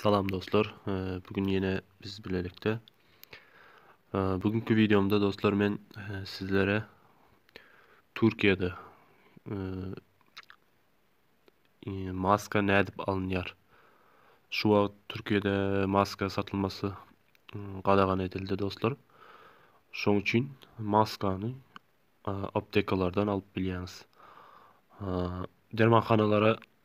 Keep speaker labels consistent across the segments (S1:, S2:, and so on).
S1: Salam dostlar. Bu gün ýene biz bilelikde. Bugünkü wideomda dostlar men sizlere Türkiýede maska nädip alynýar? Şu wagt Türkiýede maska satylmasy gadagan edildi dostlar. Şoň üçin maskany aptekalardan alyp bilýäňiz. Dermanhanalara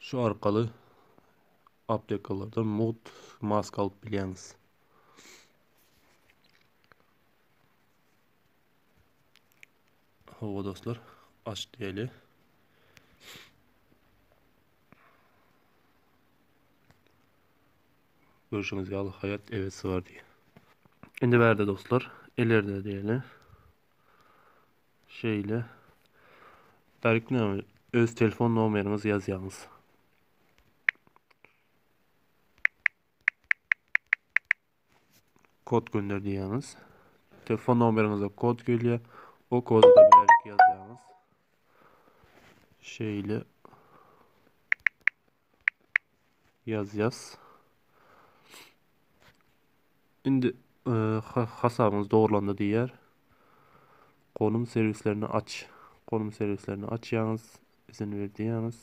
S1: Şu arkaly aptekalardan mugt maska alyp bilýäňiz. Hawa dostlar, aç diýeli. Görüşüňiz ýaly hayat evet sığar diye. Indi bärde dostlar, elerde diýeli. Şeýle. Darykna öz telefon nomeriňizi ýazýaňyz. Kod gönder diýýäňiz. Telefon nomeriňize kod gelýär. O kodu da beýlik ýazýaňyz. Şeýle. Ýazýas. Indi hasabyňyz dogrulandy diýer. Gonum serwislerini aç. Gonum serwislerini açýaňyz, izin ber diýýäňiz.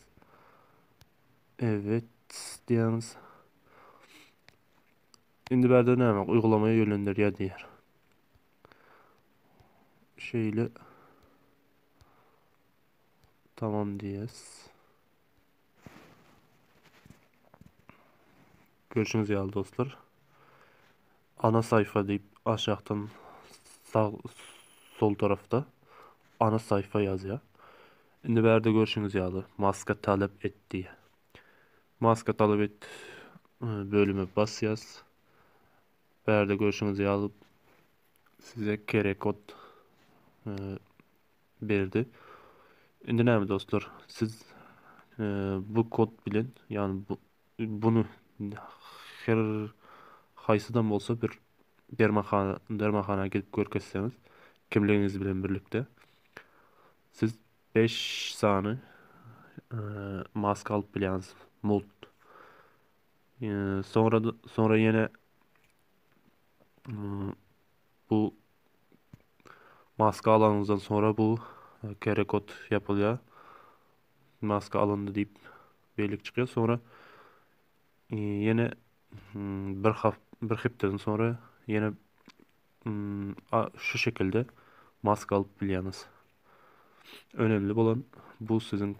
S1: Evet diýýäňiz. Indi bärde näme? Uygulama ýönlendirýär diýer. Şeýle tamam diýes. Görşüňiz ýaly dostlar. Ana saýfa diýip aşakdan sag sol tarafda ana saýfa ýazýar. Indi bärde görşüňiz ýaly maska talep et diýýär. Maska talep et e, bölüme basýas. Bärde görşüňiz ýaly size QR kod e, berdi. Indi näme dostlar, siz bu kod bilen, ýagny bu bunu her haýsydan bolsa bir dermanhana dermanhana gidip görkezseňiz, kimligiňiz bilen birlikde siz 5 sany maska alyp bilýäňiz. Mult. Sonra sonra ýene Bu maska alanyňyzdan sonra bu QR kod ýapylýar. Maska alyndy diýip bellik çykýar. Sonra ýene bir hap bir hepdeden sonra ýene şu şekilde maska alyp bilýäňiz. Önümli bolan bu siziň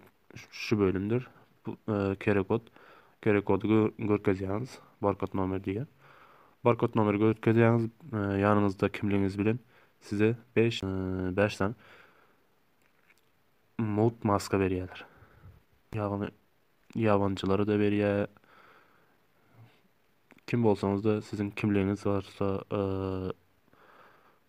S1: şu bölümdir. Bu kere kod. Kere kody görkezýäňiz. Barkod nomer diýýär. Barkod nomeri görkezýäňiz. Ýanyňyzda kimligiňiz bilen size 5 5 san mut maska berýärler. Ýagny ýabançylara da berýär. Kim bolsaňyz da siziň kimligiňiz barsa,